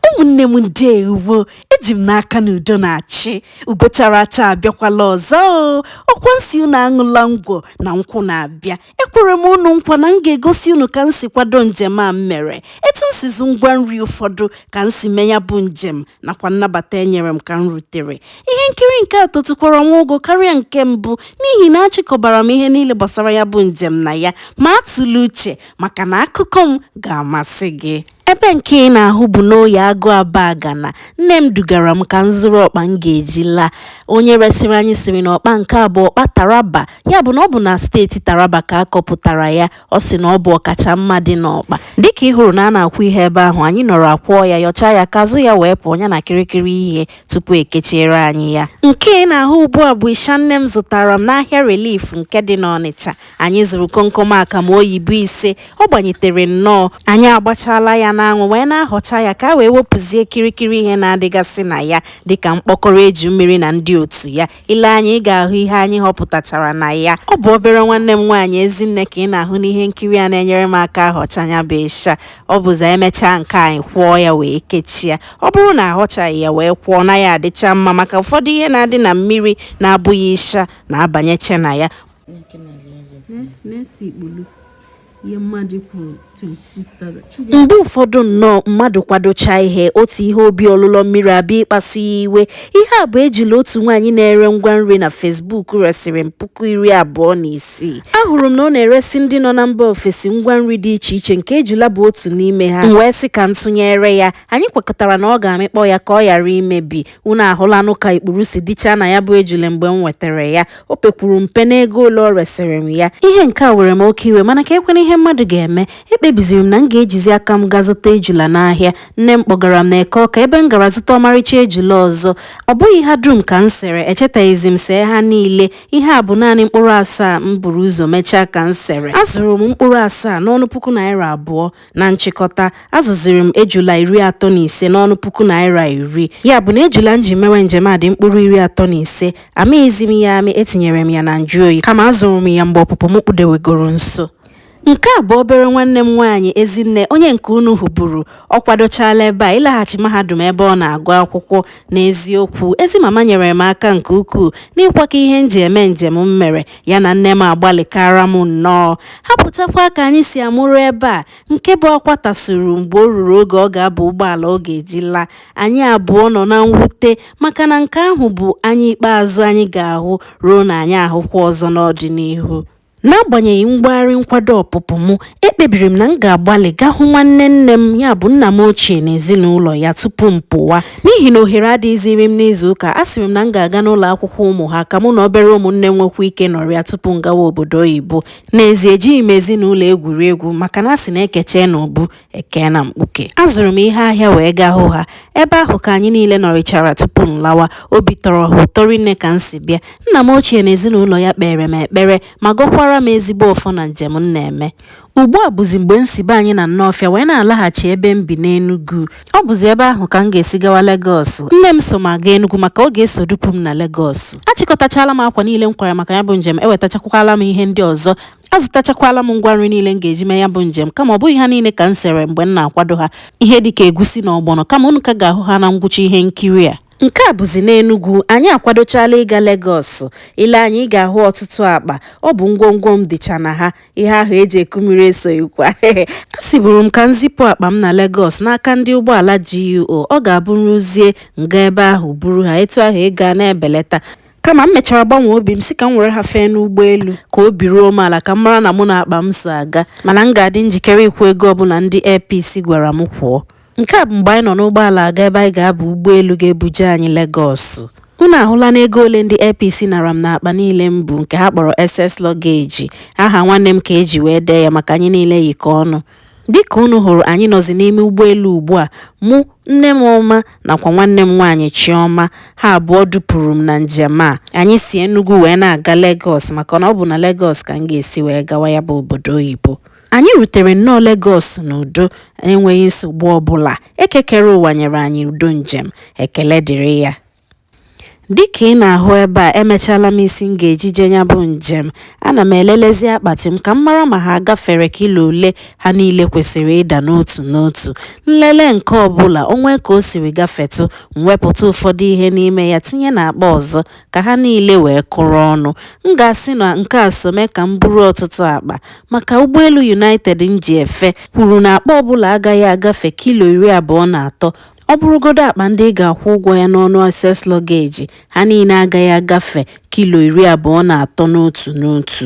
ụmụnne m ndeewo eji m n'aka na udo na-achị ugo chara acha abịakwala ọzọ o ọkwa m sị unu aṅụla ngwọ na nkwụ na-abịa ekwere m unu nkwa na m ga-egosi unu ka m si kwado njem a m mere etu m si zụ ngwa nri ụfọdụ ka m si mee ya bụ njem nakwa nnabata enyere m ka m rutere Ihe nkiri nke a totukwara nwa ogo karịa nke mbụ n'ihi na achịkọbara m ihe niile gbasara ya bụ njem na ya, ma atụla uche maka na akụkọ m ga-amasị gị. Ebe nke ị na-ahụ bụ n'Oye Agụ Abagana. Nne m dugara m ka m zụrụ ọkpa m ga-eji laa. Onye resịrị anyị sịrị na ọkpa nke a bụ ọkpa Taraba, ya bụ na ọ bụ na steeti Taraba ka a kọpụtara ya. Ọ sị na ọ bụ ọkacha mma dị n'ọkpa. Dịka ị hụrụ na a na-akwọ ihe ebe ahụ, anyị nọrọ akwọọ ya, yọchaa ya, ka azụ ya wee pụọ, ya na kịrịkịrị ihe. tupu ekechiere anyị ya nke ị na-ahụ ugbu a bụ ịsha nne m zụtara m n'ahịa relief nke dị n'ọnịcha anyị zụrụ komkom akamụ oyibo ise ọ gbanyetere nnọọ anyị agbachala ya n'anwụ wee na-ahọcha ya ka a wee wepụzie kịrịkịrị ihe na-adịgasị na ya dịka mkpọkọrọ eju mmiri na ndị otu ya i lee anya ị ga-ahụ ihe anyị họpụtachara na ya ọ bụ obere nwanne m nwaanyị ezinne ka ị na-ahụ n'ihe nkiri a na-enyere m aka ahọcha ya bụ ịsha ọ bụzi emechaa nke a anyị kwọọ ya wee kechie ọ bụrụ na ahọchaghị ya wee kwọọ ọ naghị adịcha mma maka ụfọdụ ihe na-adị na mmiri na-abụghị ịsha na-abanyecha na ya mgbe ụfọdụ nnọọ mmadụ kwadocha ihe otu ihe obi ọlụlọ mmiri abịa ịkpasu ya iwe ihe a bụ ejila otu nwaanyị na-ere ngwa nri na facebook resịrị m puku iri abụọ na isii ahụrụ m na ọ na-eresị ndị nọ na mba ofesi ngwa nri dị iche iche nke ejula bụ otu n'ime ha m wee sị ka m tụnyere ya anyị kwekọtara na ọ ga-amịkpọ ya ka ọ ghara imebi unu ahụlanụ ka ikpuru si dịchaa na ya bụ ejule mgbe m nwetara ya o pekwuru mpe n'ego ole ọ resịrị m ya ihe nke a were m oke iwe mana ka ekwena ihe mmadụ ga-eme ekpebiziri m na m ga-ejizi aka m gaa zụta ejula n'ahịa nne m kpọgara m na eke ọka ebe m gara zụta ọmarịcha ejula ọzọ ọ bụghị ha dum ka m sere echetaghịzi m see ha niile ihe a bụ naanị mkpụrụ asaa m buru ụzọ mechaa ka m sere azụrụ m mkpụrụ asaa n'ọnụ puku naira abụọ Na nchịkọta, azụziri m ejula iri atọ na ise n'ọnụ puku naira iri. Ya bụ na ejula m ji mewe njem a dị mkpụrụ iri atọ na ise. Amịghịzi m ya amị, etinyere m ya na njụoyi kama azụrụ m ya mgbe ọpụpụ m kpudewegoro nso. Nke a bụ obere nwanne m nwaanyị Ezinne onye nke unu hụburu. Ọ kwadochaala ebe a ịlaghachi mahadum ebe ọ na-agụ akwụkwọ. N'eziokwu, ezi mama nyere m aka nke ukwuu n'ịkwakọ ihe m ji eme njem m mere. ya na nne m agbalịkara m nnọọ hapụchakwa ka anyị si amụrụ ebe a nke bụ akwa tasuru mgbe o ruru oge ọ ga-aba ụgbọala ọ ga-eji laa anyị abụọ nọ na mwute maka na nke ahụ bụ anya ikpeazụ anyị ga-ahụ ruo na anyị ahụkwa ọzọ n'ọdịnihu n'agbanyeghị mgbagharị nkwado ọpụpụ m ekpebiri m na m ga-agbalị gaa hụ nwanne nne m ya bụ nna m ochie na ezinụlọ ya tupu m pụwa n'ihi na ohere adịghịziri m n'izu ụka asịrị m na m ga-aga n'ụlọ akwụkwọ ụmụ ha ka mụ na obere ụmụnne m nwekwa ike nọrịa tupu m gawa obodo oyibo n'ezie ejighị m ezinụlọ egwuri egwu maka na a sị na ekechee na obu ekee na mkpuke azụrụ m ihe ahịa wee gaa hụ ha ebe ahụ ka anyị niile nọrịchara tupu m lawa obi tọrọ ha ụtọ rinne ka m si bịa nna m ochie na ezinụlọ ya kpeere m ekpere ma gọkwara m ezigbo ọfọ na njem m na-eme ugbu a bụzi mgbe m si be anyị na Nnọọfịa wee na-alaghachi ebe m bi n'Enugu ọ bụzi ebe ahụ ka m ga-esi gawa Legọs nne m so m aga Enugu maka ọ ga-eso dupụ m na Legọs achịkọtachala m akwa niile m kwara maka ya bụ njem ewetachakwala m ihe ndị ọzọ azụtachakwala m ngwa nri niile m ga-eji mee ya bụ njem kama ọ bụghị ha niile ka m sere mgbe m na-akwado ha ihe dịka egusi na ọgbọnọ kama unu ka ga-ahụ ha na ngwụcha ihe nkiri a Nke a bụzi n'Enugwu, anyị akwadochaala ịga Legọs. I lee anya, ị ga-ahụ ọtụtụ akpa. Ọ bụ ngwongwo m dịcha na ha. Ihe ahụ e ji eku mmiri esoghịkwa. Asịburu m ka m zipụ akpa m na Legọs n'aka ndị ụgbọala GUO. Ọ ga-abụ m ruzie, m gaa ebe ahụ buru ha. Etu ahụ ego a na-ebeleta. Kama m mechara gbanwee obi m sị ka m were ha fee n'ụgbọelu ka obi ruo m ala ka m mara na mụ na akpa m so aga. Mana m ga-adị njikere ịkwụ ego ọbụla ndị Air Peace gwara m kwụọ. Nke a bụ mgbe anyị nọ n'ụgbọala aga ebe anyị ga-aba ụgbọelu ga-ebuje anyị Legọs. Unu ahụla na ego ole ndị Air Peace nara m n'akpa niile m bu nke ha kpọrọ excess luggage. Aha nwanne m ka e ji wee dee ya maka anyị niile yikọ ọnụ. Dịka unu hụrụ anyị nọzi n'ime ụgbọelu ugbua, mụ, nne m ọma nakwa nwanne m nwaanyị Chiọma. Ha abụọ dupụrụ m na njem a. Anyị si Enugwu wee na-aga Legọs maka na ọ bụ na Legọs ka m ga-esi wee gawa ya bụ obodo oyibo. Anyị rutere nnọọ Legọs n'udo, enweghị nsogbu ọ bụla. Eke kere ụwa nyere anyị udo njem. Ekele dịrị ya. Dị ka ị na-ahụ ebe a, emechaala m isi m ga-eji jee ya bụ njem. Ana m elelezi akpati m ka m mara ma ha agafere kilo ole ha niile kwesịrị ịda n'otu n'otu. M lelee nke ọ bụla, o nwee ka o siri gafetụ, m wepụta ụfọdụ ihe n'ime ya tinye n'akpa ọzọ, ka ha niile wee kụrụ ọnụ. M ga-asị na nke a so mee ka m buru ọtụtụ akpa maka ụgbọelu United m ji efe kwuru na akpa ọbụla agaghị agafe kilo iri abụọ na atọ ọ bụrụgodu akpa ndị ị ga-akwụ ụgwọ ya n'ọnụ excess luggage ha niile agaghị agafe kilo iri abụọ na atọ n'otu n'otu.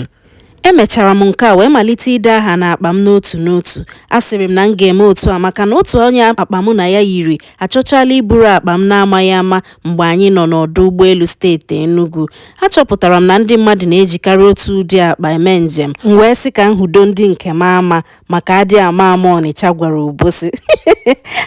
Emechara m nke a wee malite ide aha n'akpa m n'otu n'otu. Asịrị m na m ga-eme otu a maka na otu onye akpa mụ na ya yiri achọchaala iburu akpa m n'amaghị ama mgbe anyị nọ n'ọdụ ụgbọelu steeti Enugwu. Achọpụtara m na ndị mmadụ na-ejikarị otu ụdị akpa eme njem, m wee sị ka m hụdo ndị nke m ama maka adị ama ama Ọnịcha gwara Obosi.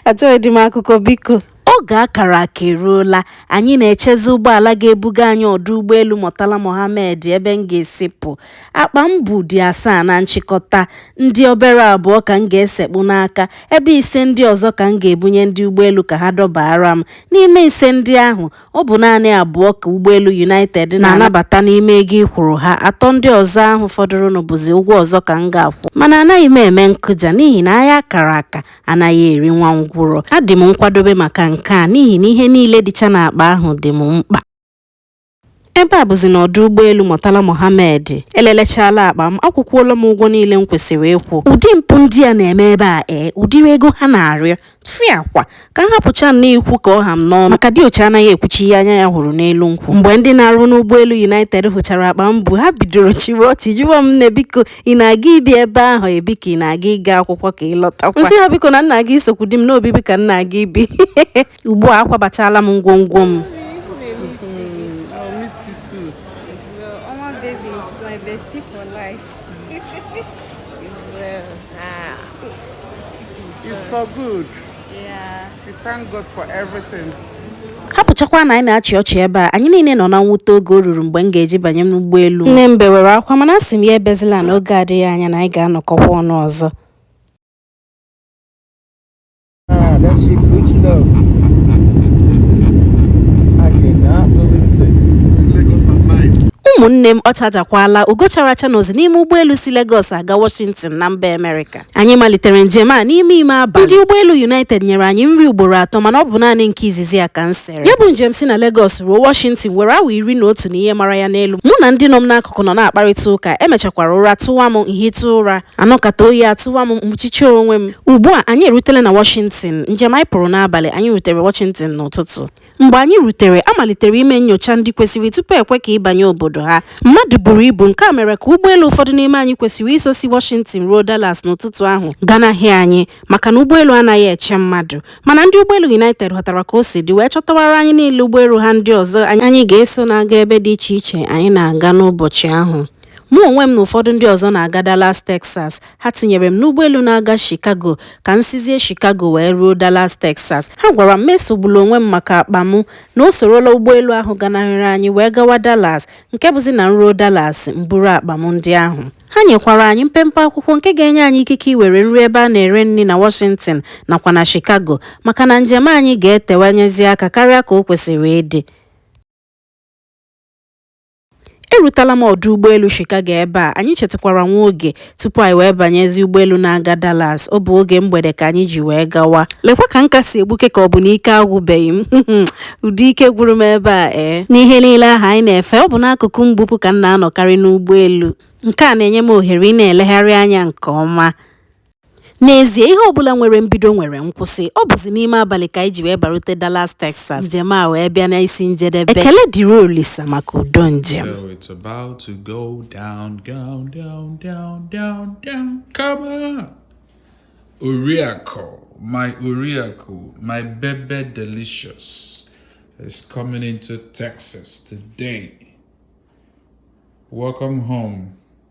Achọghịdị m akụkọ biko. Oge a kara aka eruola, anyị na-echezi ụgbọala ga-ebuga anyị ọdụ ụgbọelu Murtala Mohammed ebe m ga-esi pụ. Akpa m bu dị asaa na nchịkọta, ndị obere abụọ ka m ga-esekpu n'aka, ebe ise ndị ọzọ ka m ga-ebunye ndị ụgbọelu ka ha dọbaara m. N'ime ise ndị ahụ, ọ bụ naanị abụọ ka ụgbọelu United na-anabata n'ime ego ị kwụrụ ha, atọ ndị ọzọ ahụ fọdụrụnụ bụzi ụgwọ ọzọ ka m ga-akwụ. Mana anaghị m eme nkụja n'ihi na agha a kara aka, anaghị eri nwa ngwụrọ adị m nkwadobe maka nke a n'ihi na ihe niile dịcha n'akpa ahụ dị m mkpa ebe a bụzi na ọdụ ụgbọelu Murtala Mohammed elelechala akpa m akwụkwọla m ụgwọ niile m kwesịrị ịkwụ ụdị mpụ ndị a na-eme ebe a ee ụdịrị ego ha na-arịọ fịakwa ka m hapụcha na ikwu ka ọ ha m n'ọnụ maka diochi anaghị ekwucha ihe anya ya hụrụ n'elu nkwụ mgbe ndị na-arụ n'ụgbọelu United hụchara akpa m bu ha bidoro chịwa ọchị jụwa m nne biko ị na-aga ibi ebe ahụ ebi ka ị na-aga ịga akwụkwọ ka ị lọtakwa m sị ha biko na m na-aga isokwu di m na obibi ka m na-aga ibi ugbu a akwabachala m ngwongwo m It's for good. hapụchakwa na anyị na-achị ọchị ebe a anyị niile nọ na mwute oge o ruru mgbe m ga-eji banye n'ụgbọelu nne m bewere akwa mana asị m ya ebezila n'oge adịghị anya na anyị ga-anọkọkwa ọnụ ọzọ ụmụnne m ọ chajakwala ugo chara acha nọzi n'ime ụgbọelu si Lagos aga Washington na mba Amerịka anyị malitere njem a n'ime ime abalị ndị ụgbọelu united nyere anyị nri ugboro atọ mana ọ bụ naanị nke izizi a ka m sere ya bụ njem si na Lagos ruo Washington were awa iri na otu na ihe mara ya n'elu mụ na ndị nọ m n'akụkụ nọ na-akparịta ụka emechakwara ụra tụwa m m hịta ụra anọkata oyi atụwa m m kpuchicha onwe m ugbu a anyị erutela na Washington njem anyị pụrụ n'abalị anyị rutere Washington n'ụtụtụ Mgbe anyị rutere, a malitere ime nnyocha ndị kwesịrị tupu e kwe ka ị banye obodo ha. Mmadụ buru ibu, nke a mere ka ụgbọelu ụfọdụ n'ime anyị kwesịrị iso si Washington ruo Dallas n'ụtụtụ ahụ ganahị anyị maka na ụgbọelu anaghị eche mmadụ. Mana ndị ụgbọelu United ghọtara ka o si dị wee chọtawara anyị niile ụgbọelu ha ndị ọzọ anyị ga-eso na-aga ebe dị iche iche anyị na-aga n'ụbọchị ahụ. Mụ onwe m na ụfọdụ ndị ọzọ na-aga Dallas, Texas. Ha tinyere m n'ụgbọelu na-aga Chicago ka m sizie Chicago wee ruo Dallas, Texas. Ha gwara m m esogbula onwe m maka akpa m, na o sorola ụgbọelu ahụ ganahịrị anyị wee gawa Dallas, nke bụzi na m ruo Dallas, m buru akpa m ndị ahụ. Ha nyekwara anyị mpempe akwụkwọ nke ga-enye anyị ikike iwere nri ebe a na-ere nri na Washington nakwa na Chicago maka na njem anyị ga-etewanyezi aka karịa ka o kwesịrị ịdị. Erutela m ọdụ ụgbọelu Chicago ebe a, anyị chetụkwara nwa oge tupu anyị wee banyezi ụgbọelu na-aga Dallas. Ọ bụ oge mgbede ka anyị ji wee gawa. Lekwa ka m ka si egbuke ka ọ bụ na ike agwụbeghị m. Ụdị ike gwụrụ m ebe a ee. Eh. N'ihe niile ahụ anyị na-efe, ọ bụ n'akụkụ mgbupụ ka m na-anọkarị n'ụgbọelu. Nke a na-enye m ohere ịna-elegharị anya nke ọma. N'ezie, ihe ọbụla nwere mbido nwere nkwụsị. Ọ bụzi n'ime abalị ka anyị ji wee barute Dallas, Texas. Njem a wee bịa n'isi njedebe. Ekele dịrị Olisa maka udo njem. So it's about to go down, down, down, down, down, down. Come on! Oriakụ, my Oriakụ, my Bebe Delicious is coming into Texas today. Welcome home.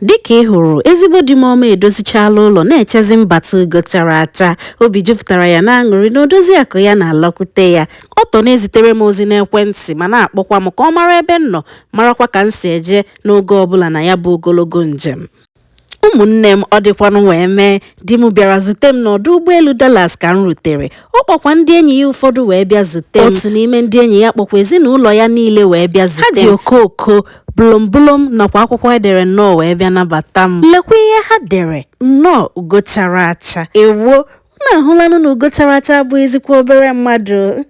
Dịka ị hụrụ, ezigbo di m ọma edozichaala ụlọ na-echezi mbata ugo chara acha. Obi jupụtara ya n'aṅụrị na odoziakụ ya na-alọkwute ya. Ọ tọ na-ezitere m ozi n'ekwentị ma na-akpọkwa m ka ọ mara ebe m nọ, marakwa ka m si eje n'oge ọbụla na ya bụ ogologo njem. Ụmụnne m, ọ dịkwanụ wee mee, di m bịara zute m n'ọdụ ụgbọelu Dallas ka m rutere ọ kpọkwa ndị enyi ya ụfọdụ wee bịa zute m otu n'ime ndị enyi ya kpọkwa ezinụlọ ya niile wee bịa zute m ha ji okooko bụlọmbụlọm nakwa akwụkwọ e dere nnọọ wee bịa nabata m lekwa ihe ha dere nnọọ ugo chara acha ewo unu ahụlanụ na ugo chara acha abụghịzikwa obere mmadụ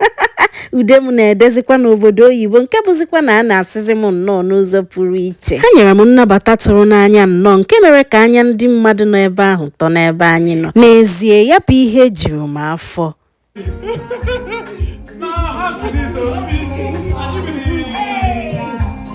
ude m na-edezikwa n'obodo oyibo nke bụzikwa na a na-asịzi m nnọọ n'ụzọ pụrụ iche ha nyere m nnabata tụrụ n'anya nnọọ nke mere ka anya ndị mmadụ nọ ebe ahụ tọ n'ebe anyị nọ n'ezie ya bụ ihe juru m afọ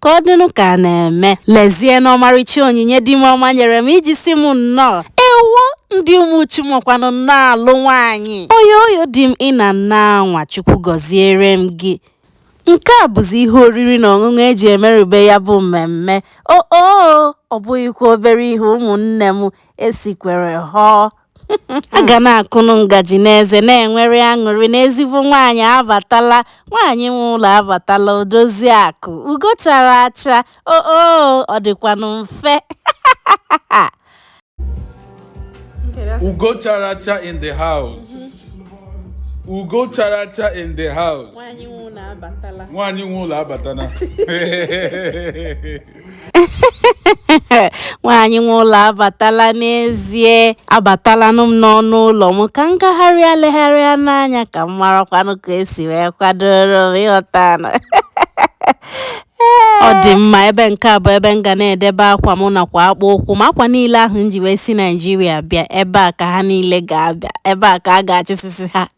ka ọ dịnụ ka a na-eme lezienụ ọmarịcha onyinye di m ọma nyere m iji si m nnọọ ewo ndị umuchu makwanụ nnọọ alụ nwaanyị oyoyo di m ị na-anwa anwa chukwu gọziere m gị nke a bụzi ihe oriri na ọṅụṅụ e ji emerube ya bụ mmemme o o ọ bụghịkwa obere ihe ụmụnne m esikwere họọ a ga na-akụnụ ngaji n'eze na-enwere aṅụrị na ezigbo nwaanyị abatala nwaanyị nwe ụlọ abatala odozi akụ ugo chara acha o o ọ dịkwanụ mfe Ugo chara acha in the house. Ugo chara acha in the house. Nwaanyị nwe ụlọ abatala. nwaanyị nwe ụlọ abatala n'ezie abatalanụ m n'ọnụ ụlọ m ka m gagharịa legharịanụ anya ka m marakwanụ ka e si wee kwadoro m ị ghọta na ọ dị mma ebe nke a bụ ebe m ga na-edebe akwa m nakwa akpụ ụkwụ m akwa niile ahụ m ji wee si naijiria bịa ebe a ka ha niile ga-abịa ebe a ka a ga-achịsịsị ha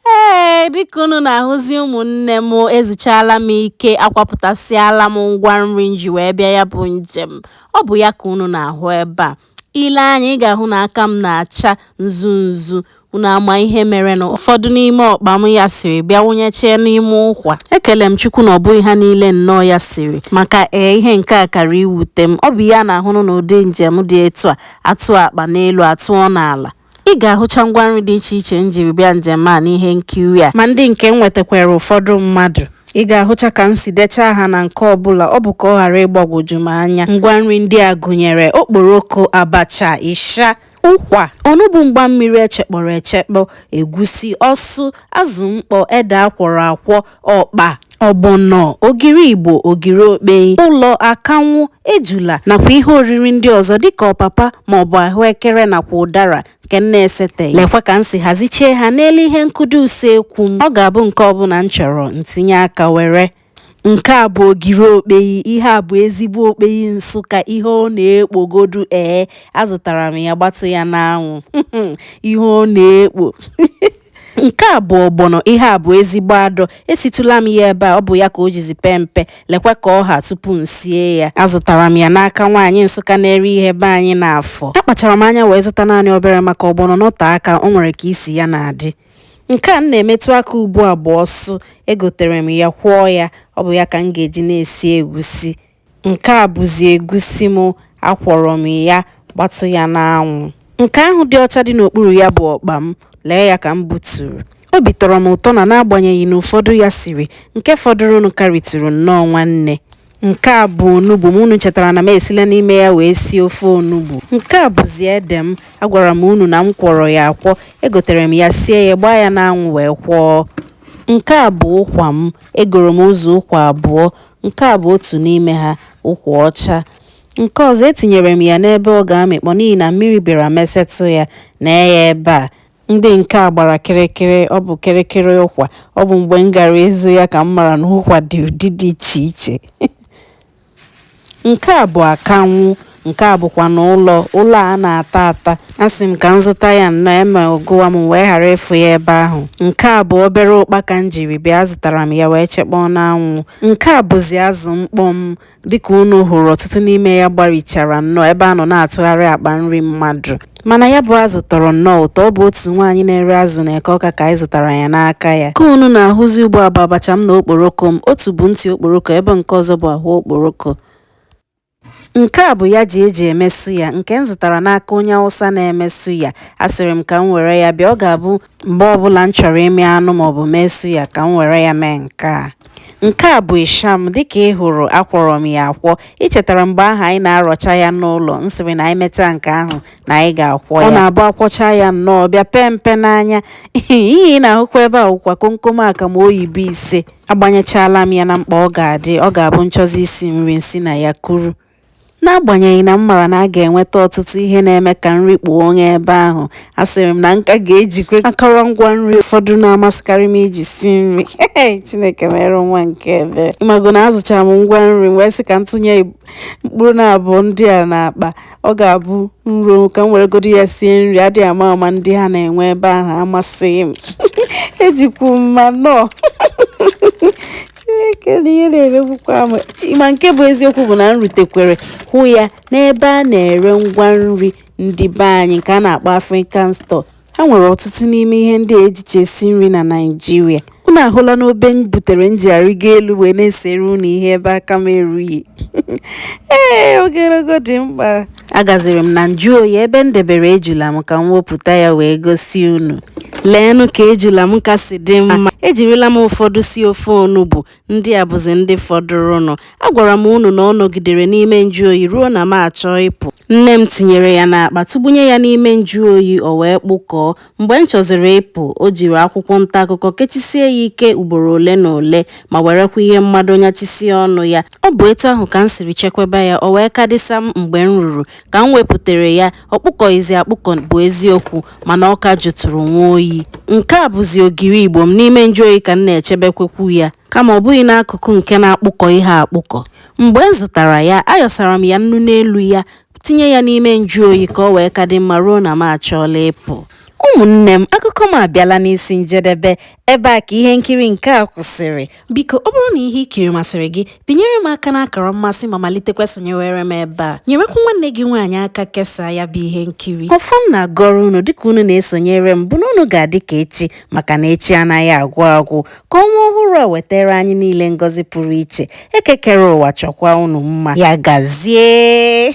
Ee, dịka unu na-ahụzị ụmụnne m ezuchaala m ike akwapụtasịala m ngwa nri m ji wee bịa ya bụ njem ọ bụ ya ka unu na-ahụ ebe a i lee anya ị ga-ahụ na aka m na-acha nzu nzu unu ama ihe mere na ụfọdụ n'ime ọkpa m yasịrị bịa wụnyechie n'ime ụkwa ekele m chukwu na ọ bụghị ha niile nnọọ yasịrị maka ee ihe nke a kara iwute m ọ bụ ya na-ahụnụ na ụdị njem dị etu a atụọ akpa n'elu atụọ n'ala Ị ga-ahụcha ngwa nri dị iche iche m jiri bịa njem a n'ihe nkiri a ma ndị nke m nwetakwara ụfọdụ mmadụ. Ị ga-ahụcha ka m si dechaa aha na nke ọbụla ọ bụ ka ọ ghara ịgbagwoju m anya. Ngwa nri ndị a gụnyere okporoko, abacha, ịsha, ụkwa, onugbu mgbammiri echekpọrọ echekpọ, egwusi, ọsụ, azụ mkpọ, ede akwọrọ akwọ, ọkpa ọgbọnọ ogiri igbo ogiri okpeyi ụlọ akanwụ ejula nakwa ihe oriri ndị ọzọ dịka ọpapa maọbụ ahụekere nakwa ụdara nke m na-eseteghị lekwa ka m si hazichie ha n'elu ihe nkụdo usekwu m ọ ga-abụ nke ọbụla m chọrọ m tinye aka were nke a bụ ogiri okpeyi ihe a bụ ezigbo okpeyi nsụka ihe ọ na-ekpogodu ee azụtara m ya gbatụ ya n'anwụ ihe ọ na-ekpo nke a bụ ọgbọnọ ihe a bụ ezigbo adọ esitụla m ya ebe a ọ bụ ya ka o jizi pee mpe lekwa ka ọ ha tupu m sie ya azụtara m ya n'aka nwaanyị nsụka na-ere ihe be anyị n'afọ akpachara m anya wee zụta naanị obere maka ọgbọnọ nọte aka o nwere ka isi ya na-adị nke a m na-emetụ aka ugbu a bụ ọsụ egotere m ya kwọọ ya ọ bụ ya ka m ga-eji na-esi egusi Nke a bụzi egusi m, akwọrọ m ya, gbatụ ya n'anwụ. Nke ahụ dị ọcha dị n'okpuru ya bụ ọkpa m, lee ya ka m buturu. Obi tọrọ m ụtọ na n'agbanyeghị na ụfọdụ yasịrị, nke fọdụrụnụ karịtụrụ nnọọ nwanne. Nke a bụ onugbu m, unu chetara na m esila n'ime ya wee sie ofe onugbu. Nke a bụzi ede m, agwara m unu na m kwọrọ ya akwọ, egotere m ya sie ya, gbaa ya n'anwụ wee kwọọ. Nke a bụ ụkwa m, egoro m ụzọ ụkwa abụọ. Nke a bụ otu n'ime ha, ụkwa ọcha. Nke ọzọ, etinyere m ya n'ebe ọ ga-amịkpọ n'ihi na mmiri bịara mesetụ ya. Lee ya ebe a. Ndị nke a gbara kịrịkịrị. Ọ bụ kịrịkịrị ụkwa. Ọ bụ mgbe m gara ịzụ ya ka m mara na ụkwa dị ụdị dị iche iche. Nke a bụ akanwụ. Nke a bụkwanụ ụlọ ụlọ a na-ata ata. Asị m ka m zụta ya nnọọ emee ọ gụwa m wee ghara ịfụ ya ebe ahụ. Nke a bụ obere ụkpaka m jiri bịa azụtara m ya wee chekpọọ n'anwụ. Nke a bụzi azụ mkpọ m dịka unu hụrụ ọtụtụ n'ime ya gbarichara nnọọ ebe a nọ na-atụgharị akpa nri mmadụ. Mana ya bụ azụ tọrọ nnọọ ụtọ, ọ bụ otu nwaanyị na-ere azụ n'Eke Ọka ka anyị zụtara ya n'aka ya. Nke unu na-ahụzi ugbu a bụ abacha m na okporoko m, otu bụ ntị okporoko ebe nke ọzọ bụ ahụ okporoko. Nke a bụ yaji eji eme suya nke m zụtara n'aka onye Awụsa na-eme suya. Asịrị m ka m were ya bịa, ọ ga-abụ mgbe ọbụla m chọrọ ịmị anụ maọbụ mee suya ka m were ya mee nke a. Nke a bụ ịsha m, dịka ị hụrụ akwọrọ m ya akwọ. Ị chetara mgbe ahụ anyị na-arọcha ya n'ụlọ, m sịrị na anyị mechaa nke ahụ na anyị ga-akwọ ya. Ọ na-abụ akwọcha ya nnọọ bịa pee mpe n'anya. Ihe ị na-ahụkwa ebe a wụkwa komkom akamụ oyibo ise. Agbanyechaala m ya na mkpọ ọ ga-adị, ọ ga-abụ m chọzi isi nri m si na ya kuru. N'agbanyeghị na m mara na a ga-enweta ọtụtụ ihe na-eme ka nri kpuo onye ebe ahụ, asịrị m na m ka ga-ejikwa akọrọngwa nri ụfọdụ na-amasịkarị m iji si nri. Chineke mere nwa nke ebere. Ịmago na azụchara m ngwa nri m wee sị ka m tụnye mkpụrụ na abụọ ndị a n'akpa. ọ ga-abụ m ruo ka m weregodu ya sie nri adịghị ama ama ndị ha na-enwe ebe ahụ amasịghị m ejikwu m mmanụ chineke na ihe na-emegbukwa m ma nke bụ eziokwu bụ na m rutekwere hụ ya n'ebe a na-ere ngwa nri ndị be anyị nke a na-akpọ African store ha nwere ọtụtụ n'ime ihe ndị a ejicha esi nri na Naịjirịa unu ahụla n'obe m butere m ji arịgo elu wee na-esere unu ihe ebe aka m erughị ee ogologo dị mkpa agaziri m na njụ oyi ebe m debere ejula m ka m wepụta ya wee gosi unu leenụ ka ejula m ka si dị mma ejirila m ụfọdụ si ofe onugbu Ndị a bụzi ndị fọdụrụnụ. Agwara m unu na ọ nọgidere n'ime njụoyi ruo na m achọọ ịpụ. Nne m tinyere ya n'akpa tụgbunye ya n'ime njụoyi o wee kpụkọọ. Mgbe m chọziri ịpụ, o jiri akwụkwọ ntaakụkọ kechisie ya ike ugboro ole na ole ma werekwa ihe mmado nyachisie ọnụ ya. Ọ bụ etu ahụ ka m siri chekwaba ya, o wee ka dị sam mgbe m ruru ka m wepụtere ya. ọ kpụkọghịzi akpụkọ bụ eziokwu mana ọ ka jụtụrụ nwa oyi nke a bụzi ogiri igbo m n'ime njụoyi ka m na-echebekwekwu ya kama ọ bụghị n'akụkụ nke na-akpụkọ ihe akpụkọ mgbe m zụtara ya ayọsara m ya nnu n'elu ya tinye ya n'ime njụoyi ka o wee ka dị mma ruo na m achọọla ịpụ ụmụnne m akụkọ m abịala n'isi njedebe ebe a ka ihe nkiri nke a kwụsịrị Biko ọ bụrụ na ihe i kiri masịrị gị, binyere m aka n'akara mmasị ma malitekwa sonyewere m ebe a. Nyerekwa nwanne gị nwaanyị aka kesaa ya bụ ihe nkiri. Ọfọ m na-agọrọ unu dịka unu na-esonyere m bụ na unu ga-adị ka echi maka na echi anaghị agwụ agwụ. Ka ọnwa ọhụrụ a wetara anyị niile ngọzi pụrụ iche. Eke kere ụwa chọkwa unu mma. Ya gazie!